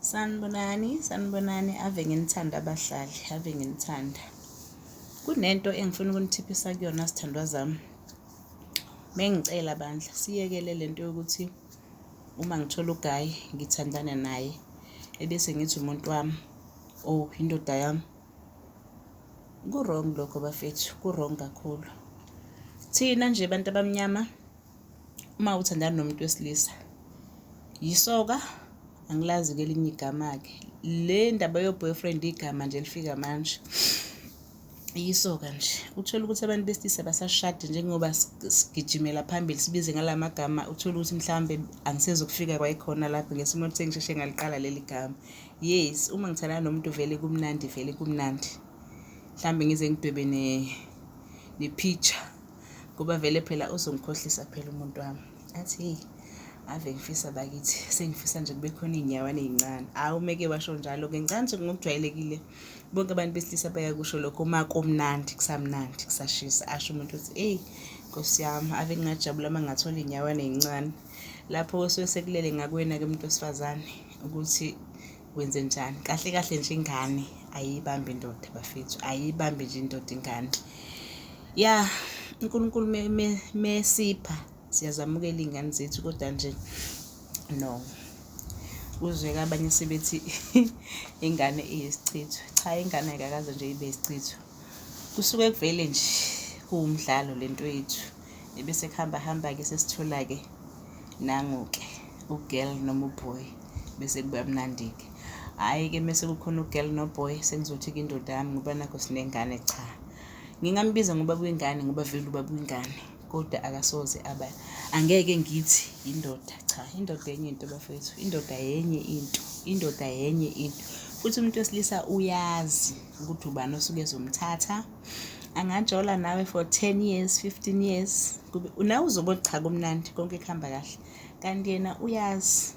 Sanibonani, sanibonani ave nginithanda abahlali, ave nginithanda. Kunento engifuna ukunithiphisa kuyona sithandwa zami. Mengicela bandla siyekele lento yokuthi uma ngithola ugayi ngithandane naye ebese ngithi umuntu wami or oh, indoda yami. Ku-wrong lokho bafethu, ku-wrong kakhulu. Thina nje bantu abamnyama uma uthandana nomuntu wesilisa yisoka angilazi-ke elinye igama-ke le ndaba yo-boyfriend igama nje elifika manje yisoka nje uthole ukuthi abantu besilisa basashade njengoba sigijimela phambili sibize ngala magama uthole ukuthi mhlawumbe angisezokufika kwayikhona lapho ngesimo ukuthi ngisheshe ngaliqala leli gama yes uma ngithandana nomuntu vele kumnandi vele kumnandi mhlawumbe ngize ngidwebe ne-picture ngoba vele phela uzongikhohlisa phela umuntu wami athi heyi ave ngifisa bakithi sengifisa nje kube khona iy'nyawana ey'ncane hhayi umeke washo njalo-ke ngicani nje ngokujwayelekile bonke abantu besilisa bayakusho lokho uma komnandi kusamnandi kusashisa asho umuntu ukuthi eyi nkosi yami ave ngingajabula uma ngathola iy'nyawana ey'ncane lapho osuke sekulele ngakwena-ke umuntu wesifazane ukuthi wenze njani kahle kahle nje ingane ayiyibambi indoda bafethu ayiyibambi nje indoda ingane ya unkulunkulu mesipha me, me siyazamukela iy'ngane zethu kodwa nje no uzweka abanye sebethi ingane iyisichitho cha ingane ayikakaze nje ibe isichitho Kusuke kuvele nje kuwumdlalo le nto yethu ebese kuhamba hamba-ke sesithola-ke nangu-ke ugirl noma uboy bese kuba mnandi-ke hhayi-ke mese kukhona ugirl noboy sengizothi-ke indoda yami ngoba nakho sinengane cha ngingambiza ngoba kwingane ngoba vele uba kwingane kodwa akasoze aba angeke ngithi indoda cha indoda yenye into bafethu indoda yenye into indoda yenye into futhi umuntu wesilisa uyazi ukuthi ubani osuke ezomthatha angajola nawe for 10 years 15 years nawe uzobe cha kumnandi konke kuhamba kahle kanti yena uyazi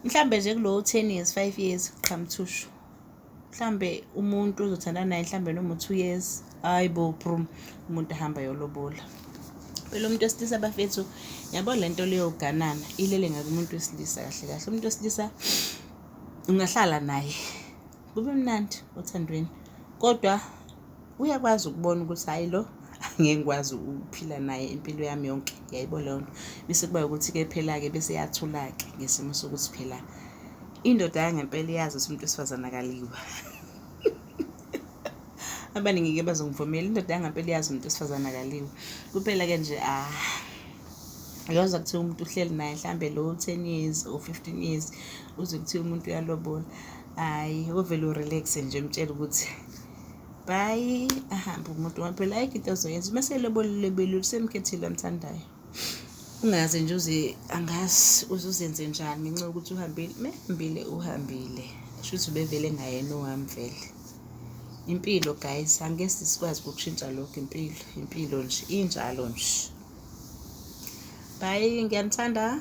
mhlambe nje kulowo 10 years 5 years qhamthushu mhlambe umuntu ozothandana naye mhlambe noma u-2 years hayi bo brum umuntu ahamba yolobola phela umuntu wesilisa bafethu yabo le nto leyoganana ilele ngakumuntu wesilisa kahle kahle umuntu wesilisa ungahlala naye kube mnandi othandweni kodwa uyakwazi ukubona ukuthi hhayi lo angeke ngikwazi ukuphila naye impilo yami yonke yayibo leyo nto bese kuba ukuthi-ke phela-ke bese yathula-ke ngesimo sokuthi phela indoda yangempela iyazi ukuthi umuntu wesifazane akaliwa abaningi-ke bazongivumela indoda yangempela iyazi umuntu wesifazane akaliwa kuphela-ke nje ah uyozwa kuthiwa umuntu uhleli naye mhlawumbe lo ten years or fifteen years uze kuthiwa umuntu uyalobola hayi ovele urelaxe nje mtshela ukuthi bayi ahambe umuntu ngoba phela ayikho into azoyenza uma selobelulebelule usemkhethile amthandayo ungazi nje uze angazi uzuzenze njani ngenxa yokuthi uhambile mehambile uhambile kusho ukuthi ubevele ngayena owamvele impilo guys angeke sikwazi ukushintsha lokho impilo impilo nje injalo nje bye ngiyanithanda